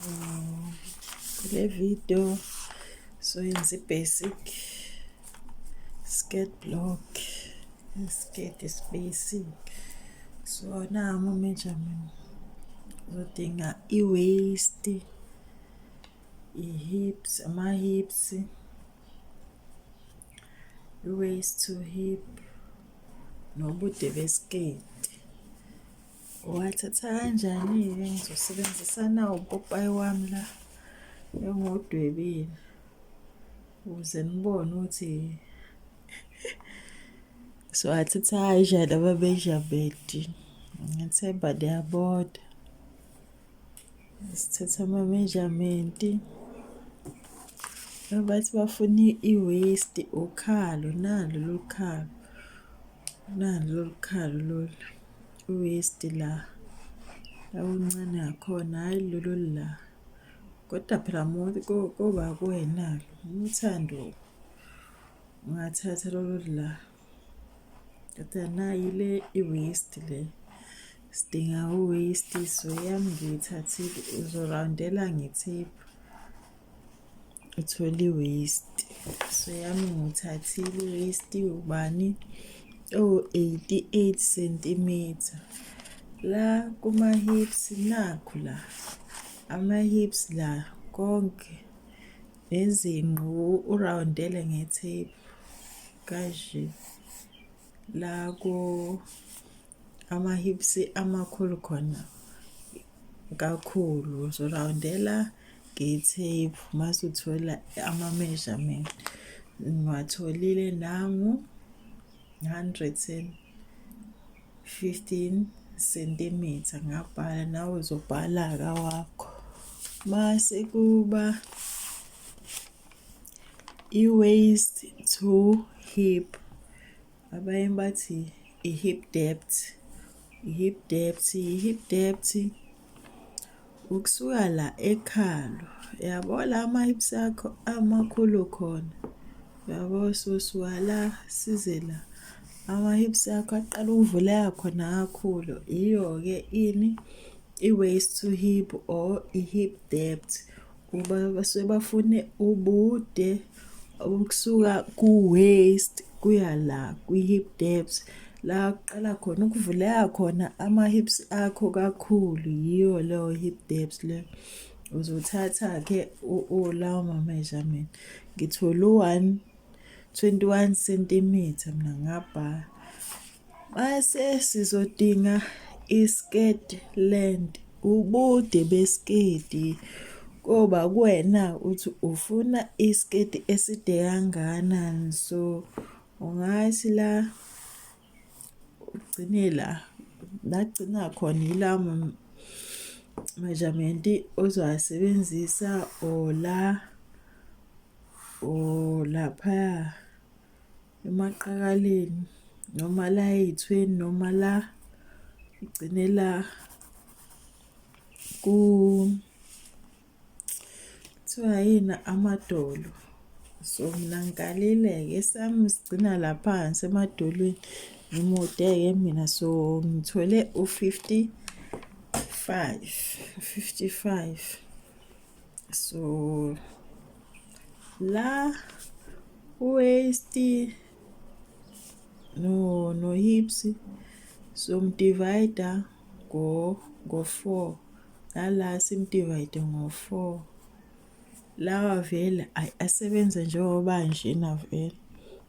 kule video soyenza i-basic skirt block skirt is basic so nawo ama-measurement uzodinga i-waist i-hips ama-hips i-waist to hip nobude besiketi Wathatha kanjani-ke ngizosebenzisana upopayi wami la engiwudwebile ukuze nibone ukuthi siwathatha kanjani amamejamenti ngethemba niyabona sithatha amamejamenti bathi bafuna i-waste ukhalo nalo lolu khalo nalo lolu khalo lolu West la lawuncane ngakhona hhayi lolo la kodwa phela muntu koba kuwena umthando ungathatha lolo la kodwa nayi le i-west le sidinga u-west so yami ngiyithathile uzorawundela ngethiphu uthole i-waste so yami nguthathile i-waste ubani owu-88 centimeter la kuma-hips nakhu la ama-hips la konke nezinqu urawundele nge-tape kanje la ko amahips amakhulu khona kakhulu uzorawundela nge-tape mase uthola ama-measurement ngiwatholile nangu 115 sentimitha ngabhala nawe uzobhala kawakho mase kuba i-waist to hip abanye bathi i-hip debt i-hip debt i-hip debt ukusuka la ekhalo yabo la ama-hips akho amakhulu khona yabo sosuka la size la ama-hips akho aqala ukuvuleka khona kakhulu yiyo-ke ini i-waist to hip or i-hip debt Uba basuke bafune ubude ukusuka ku-waist kuya la kwi-hip depth la kuqala khona ukuvuleka khona ama-hips akho kakhulu yiyo leyo hip depth leyo uzothatha-ke lawo ma-measurement ngithole u-one 21 sentimitha mina ngabha mase sizodinga iskirt length ubude besiketi koba kuwena uthi ufuna isiketi eside kangakanani so ungathi la ugcine la lagcina khona yila measurement ozowasebenzisa or la or laphaya emaqakaleni noma la ey'thweni noma la ugcine la ku kuthiwa yini amadolo so mina ngikalile-ke esami sigcina la phansi emadolweni ngimude-ke mina so ngithole u-fifty five u-fifty five so la waist no no hips so mdivider ngo ngo 4 nala simdivide ngo 4 lawa vele asebenze njengoba nje navele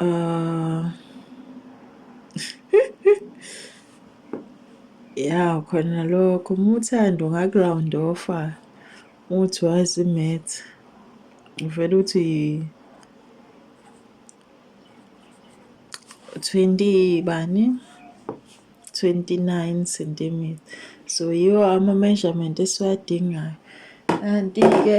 Uh, ya khona lokho uma uthanda ungaku-round offa uthi wazi imath uvele uthi 20 bani 29 centimeter so yiwo ama-measurement esiwadingayo kanti-ke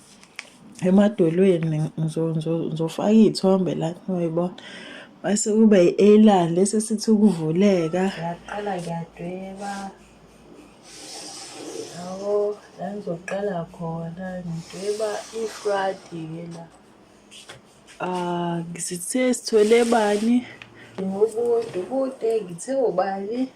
emadolweni ngizofaka iy'thombe la ngiyoyibona base kuba i-eyeliner lesi esithi ukuvuleka ngaqala ngiyadweba yabo la ngizoqala khona ngidweba ifradi-ke la um ngizithe sithole bani ngobuntu kude ngithe ubani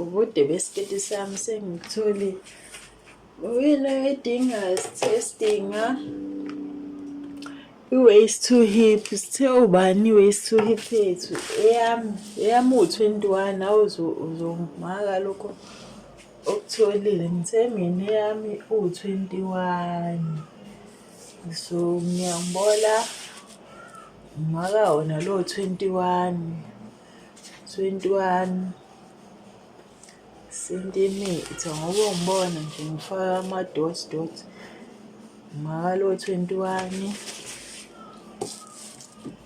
ubude besiketi sami sengitholi uyini oyidingayo sithe sidinga i-waist to hip sithe ubani i-waist to hip yethu eyami eyami uwu-twenty one nawe uzongimaka lokho okutholile ngithe mina eyami uwu-twenty one so ngiyangibona ngimaka wona lowo-twenty one 21 sentimitha ngoba ungibona nje ngifaka ama-dot dot makalo 21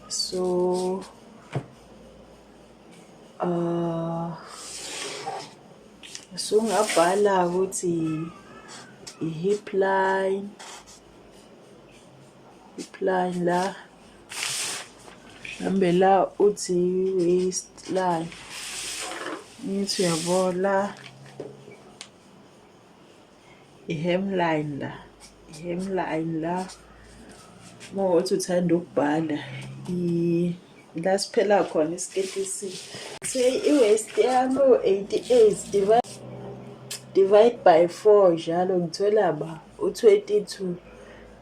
so uh, so ngabhala ukuthi i-hip line iplan la mhlambe la uthi waste la ngithi uyabo la i-hemline la i-hemline la uma ukuthi uthanda ukubhala la siphela khona isiketi esihle say i-waist yami u-88 divide divide by 4 njalo ngithola ba u-22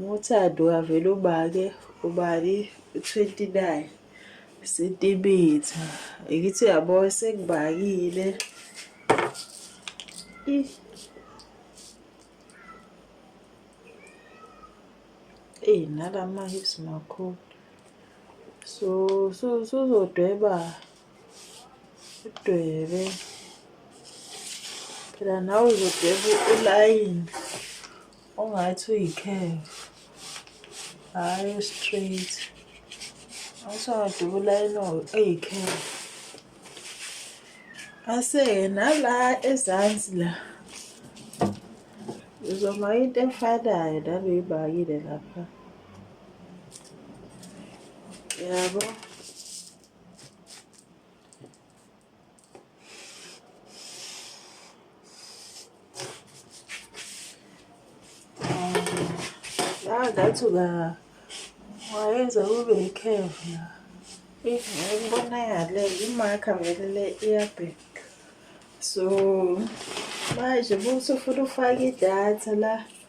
Ngothando kavele ubake ubani 29 sentimitha ngithi yabo sekubakile eyi nalama hips makhulu so so suzodweba udwebe phela nawe uzodweba ulayini ongathi uyi-curve hhayi u-straight asowadubula eno eyi-curve ase nala ezansi la uzoma into efanayo nabeyibakile lapha yabo yeah, ngathi uka wayenza kube ikhevu la ikubonakale imakha vele le iyabheka so manje busufuna ufake idatha la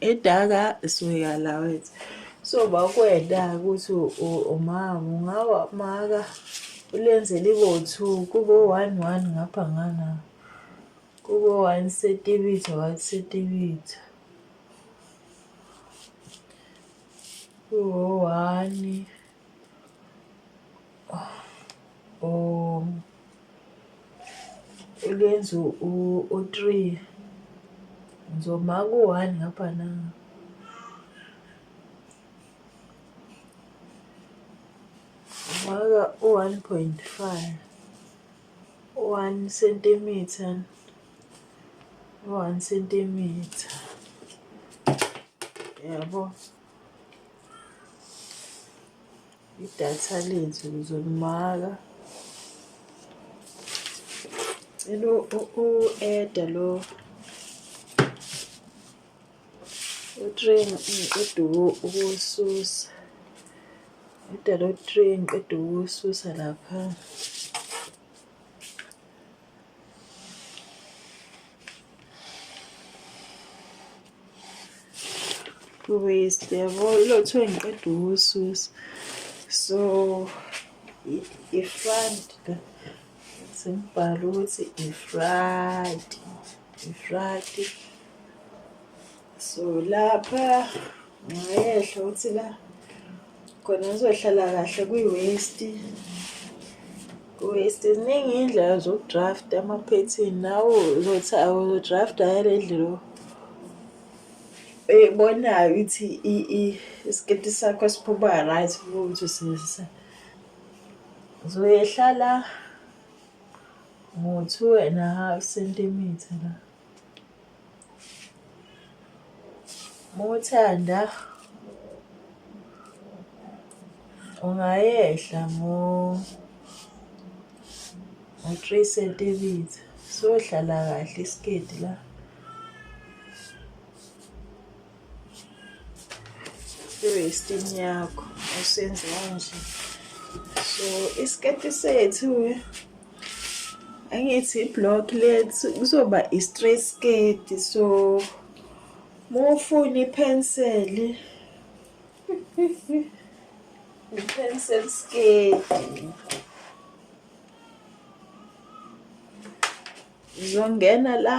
edaka suyeka la wethu so bakwenda ukuthi umama ungawa maka ulenze libo two kubo one one ngapha ngana kubo one sentibitha one sentibitha kubo one u lwenza u-three ngizoma ku-one ngapha na ngifaka u-one point five one centimeter one centimeter yabo idatha lethu lizolimaka cela u-eda lo utrain ngiqeda ukuwususa eda lo train ngiqeda ukuwususa lapha waste yabo ilo kuthiwa ngiqeda ukususa so i-front sengibhala ukuthi i-front i-front so lapha ngayehla ukuthi la khona ngizohlala kahle kwi-waste waste ziningi iy'ndlela zokudrafta ama-pattern nawo uzothi awuzodrafta yale ndlela eyibonayo ukuthi isiketi sakho siphuma right ukuthi usebenzisa uzoyehlala ngo-two and a half centimeter la Muthanda ungayehla ngo ngo 3 centimeter sohlala kahle isiketi la i-restin yakho usenze kanje so isiketi sethu-ke angithi i-block lethu kuzoba i-straight sketi so mufuna iphenseli i-pencil sketi zongena la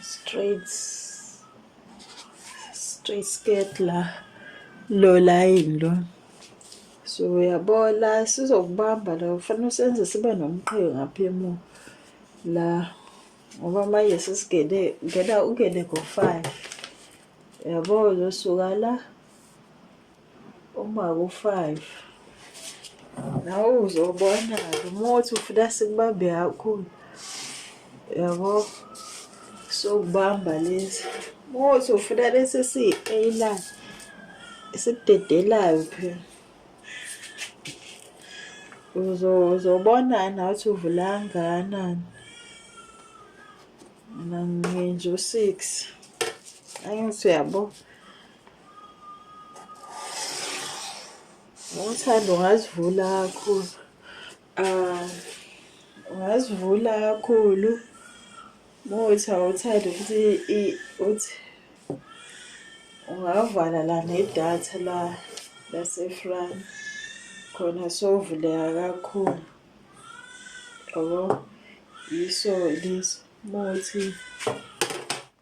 straight straight skirt la lo line lo so uyabona sizokubamba la kufanele usenze sibe nomqheke ngapha emuva la ngoba manje sesigene ngena ungene ngo-five yabo uzosuka la Umaku five. Nawe uzobona umuthi ufuna sikubambe kakhulu. Yabo sokubamba lesi. Umuthi ufuna lesi siyi-A-line esikudedelayo phela. Uzobona nathi uvula kangakanani. Mina nginje u-six. Angithi uyabo. Ngothando ungazivula kakhulu. Ah, ungazivula kakhulu. Muthi awuthandi ukuthi uthi ungavala la nedatha la laseFrance khona sovuleka kakhulu. Yabo? Yiso lesi muthi.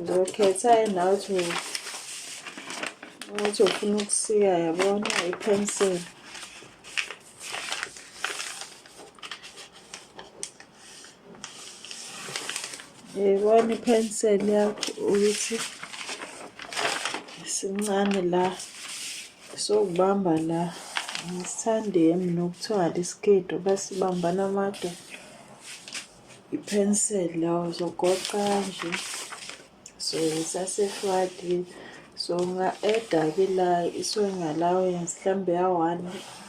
ngizokhetha yena ukuthi ukuthi ufuna ukusika yabona i-pencil yibona i-pencil yakho ukuthi sincane la sokubamba la ngisithande yami nokuthiwa lisiketi basibambana amadoda i-pencil la uzogoqa nje so isasefadi so unga-eda ke la i-sewing allowance mhlawumbe ya-one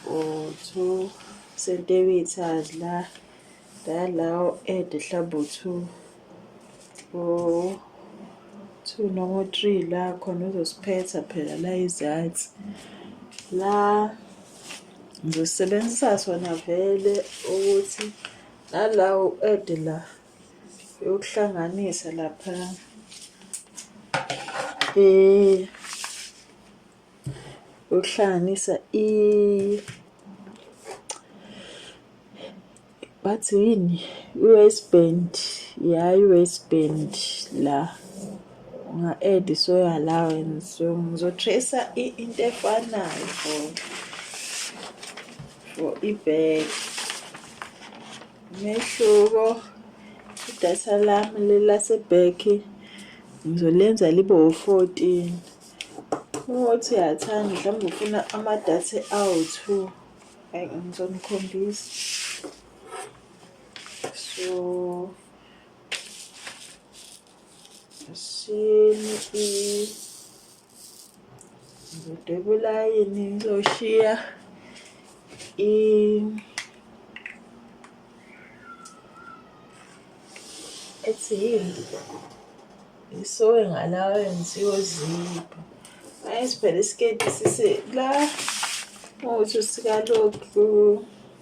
or two centimeters la la la u-ede mhlawumbe u-two or two noma u-three la khona uzosiphetha phela la izansi la ngizosebenzisa sona vele ukuthi nalawo ede la yokuhlanganisa lapha eh yokuhlanganisa i bathi yini i-waistband ya i-waistband la Unga-add soyo allowance ngizotracer into efanayo for for ibag umehluko idata lami lelasebag ngizolenza libe u-fourteen ukuthi uyathanda mhlawumbe ufuna amadata awu-two ngizonikhombisa so Shiyeni i ngidobulayini ngizoshiya i ethi yini isowe ngalawa enziwe zipho ayi siphela isiketi sise la uthi sikalokhu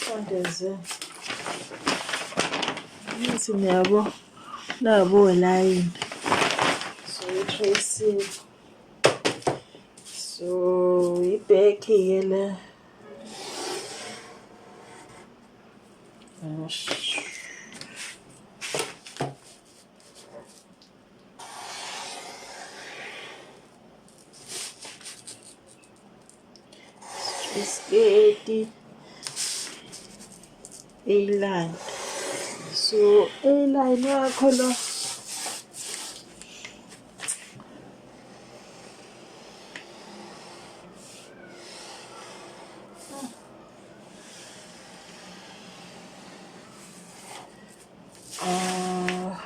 Sondeze. Ngithi niyabo nabo layini. So tracing. So ibheki ke le. Gosh. isiketi eyilani so eyilani wakho lo Ah,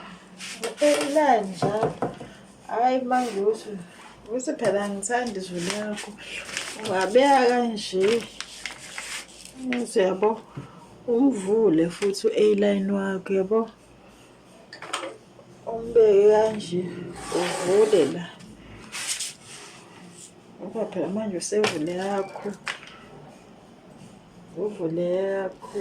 uphela njalo. Hayi mangusu. Uthi phela ngithanda izwi lakho. Ungabeka kanje. Uthi yabo umvule futhi u-A-line wakho yabo. Umbeke kanje uvule la. Ngoba phela manje usevule yakho. Uvule yakho.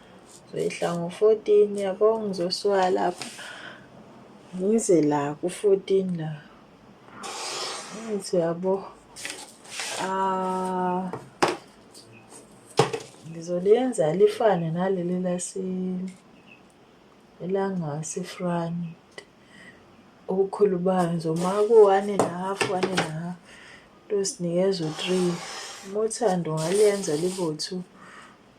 Ngehla ngo-14 yabo ngizosuka lapha ngize la ku-14 la ngithi yabo ah ngizoliyenza lifane naleli lase elangasefront ubukhulu bayo ngizoma ku-one and a half one and a half losinikeza u-three uma uthanda ungaliyenza libo-two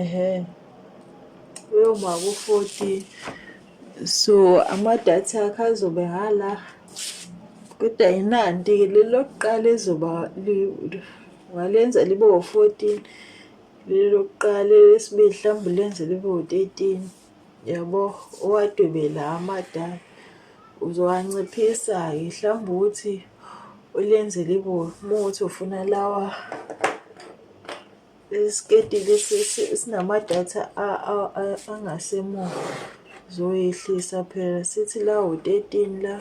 ehe uyoma ku-forty so amadatha akhe azobe hala kodwa yinanti-ke leli lokuqala ezoba ngalenza libe wo-fourteen leli lokuqala elesibili mhlawumbe lenze libe wo-thirteen yabo owadwebela amadala uzowanciphisa-ke mhlawumbe ukuthi ulenze libo uma ukuthi ufuna lawa isiketi lesi sinamadatha angasemuva zoyehlisa phela sithi la u-13 la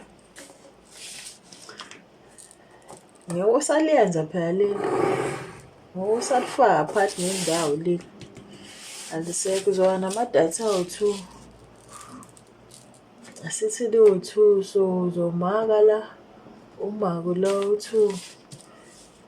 ngeke usaliyenza phela leli ngeke usalifaka phakathi nendawo leli alisekho uzoba namadatha awu-two asithi liwu-two so uzomaka la umako la u-two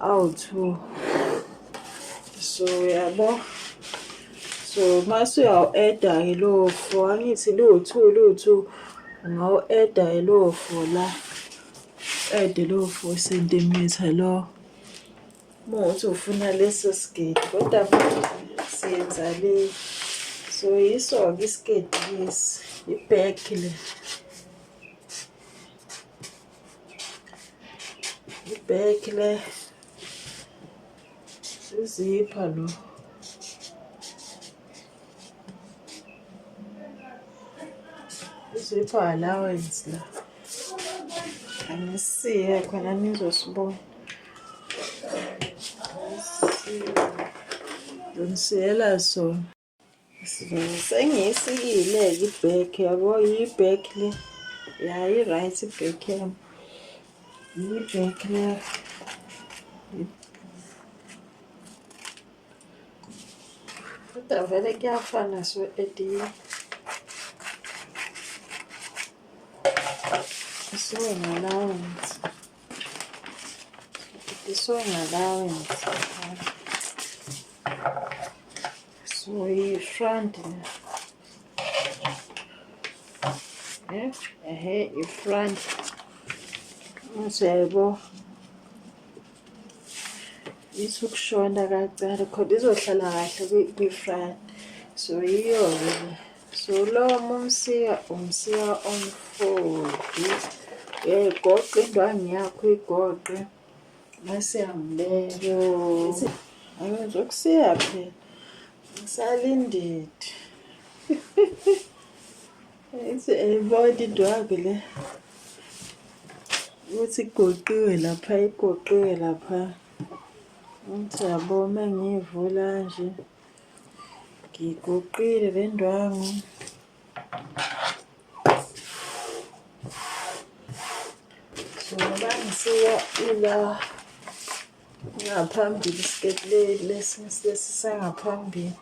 awu-two so yabo so mase uyawu-eda-ke lowo four angithi liwu-two liwu-two ungawu-eda-ke lowo four la ede lowo four centimetre lo uma ukuthi ufuna leso sigidi kodwa siyenza le so yiso-ke isigidi lesi ibhekhi le Ibag le. Sizipha lo. Sizipha allowance la. Angisiye khona nizosibona. Don't say so. sengiyisikile i-back yabo yi-back le ya i-right i-back yam yi-back le kodwa vele kuyafana so ediye isuke ngalawenzi isuke ngalawenzi So iyi front eh ehe i front usebo isukushona kancane khona izohlala kahle kwi front so yiyo ke so lo umsiya umsiya omfodi eh goqe indwangi yakho igoqe Nasihambileyo. Angizwe kusiya phela. Ngisalindidi. Ithi ayibona into yakhe le. Ukuthi igoqiwe lapha, igoqiwe lapha. Ngithi yabo uma ngiyivula nje. Ngigoqile le ndwangu. Ngibani siya ila ngaphambili isiketi lesi lesi sangaphambili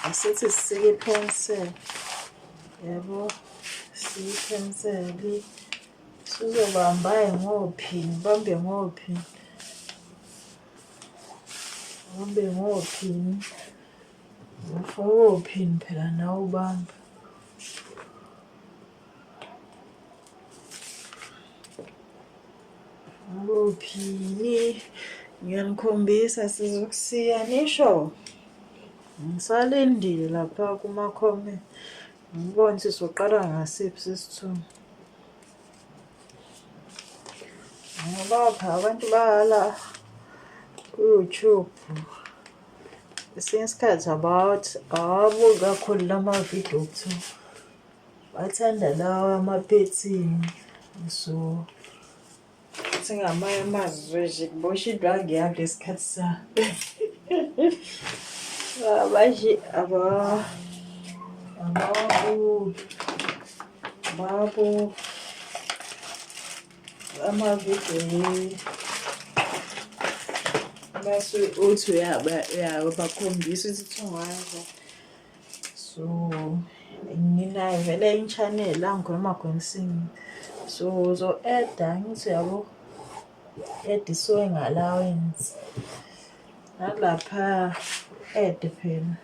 asithi sisike iphenseli yabo sike iphenseli sizobambaye ngophini bambe ngophini bambe ngophini Ufokophini phela nawe ubamba. Ufokophini ngiyanikhombisa sizokusiya nisho. Ngisalindile lapha kuma-comment ngibone sizoqala ngasiphi sesithunywa. Ngabapha abantu bala ku-YouTube esinye isikhathi about abo kakhulu lama video kuthiwa bathanda lawa amaphethini so ukuthi ngamanye amazwi nje kubosha indwangu yami lesikhathi sami abashe aba abawabuki Babo amavideo base uthi uyabakhombisa ukuthi thungaza so nginayo vele inchanel la ngikhuluma khonsini so so eda ngithi yabo ed sewing allowance nalapha ed phela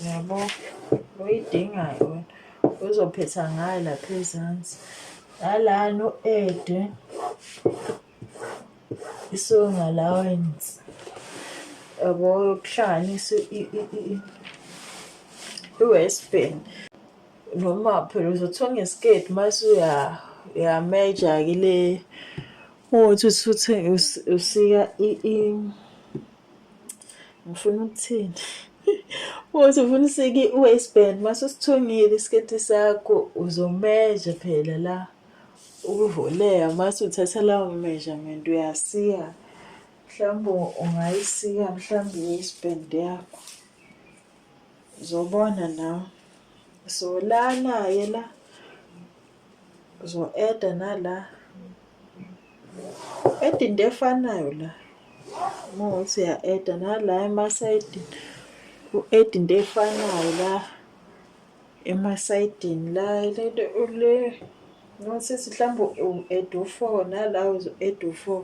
yabo uyidingayo wena uzophetha ngayo lapha ezansi nalana u-ede isong allowance yabo yokuhlanganisa i-west bank noma phela uzothonga isiketi uma suya uyameja-ke le uthi usuthi usika i ngifuna ukuthini futhi ufuna usike i-waistband mase usithungile isiketi sakho uzomeja phela la ukuvoleya mase uthatha lawo measurement uyasiya mhlawumbe ungayisiya mhlawumbe i-waistband yakho uzobona nawe so lana-ke la Uzo add nala. Add into efanayo la. Uma uthi uya add nala ema side u add into efanayo la ema side la lento le ngisisi mhlawumbe u add u4 nala uzo add u4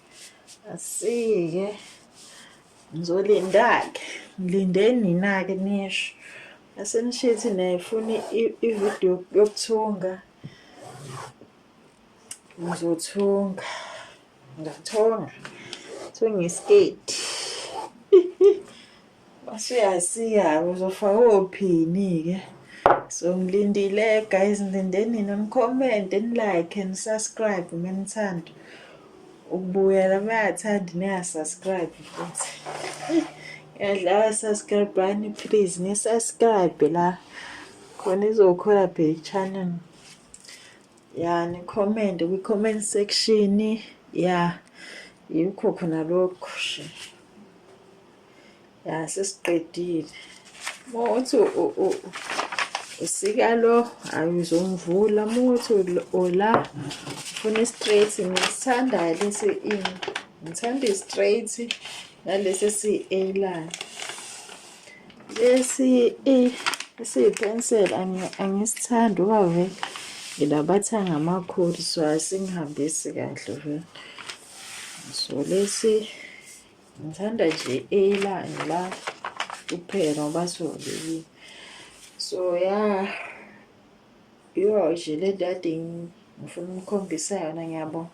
asike ngizolindake ngilinde nina-ke nisho asenishithi naye funa ividiyo yokuthunga ngizothunga ngathonga thunga isiketi Usuyasiya-ke uzofaka ophini-ke. So ngilindile guys ngilindeni nina ni-comment ni-like ni-subscribe uma nithanda ukubuyela uma yathanda niya-subscribe futhi. Yadlala subscribe bani please ni-subscribe la khona izokhula phe i-channel. Ya ni-comment kwi-comment section ya yikho khona lokho. ya sesiqedile mothi usika lo ayizomvula mothi ola ufuna i-straight ngisithandayo lesi in ngithanda i-straight nalesi si-a line lesi a esiyi-pencil angisithandi uba vele ngilabathanga amakhulu so asingihambisi kahle vele so lesi ngithanda nje elanga la kuphela ngoba siwolekile so ya yo nje le nto kade ngifuna umkhombisa yona ngiyabonga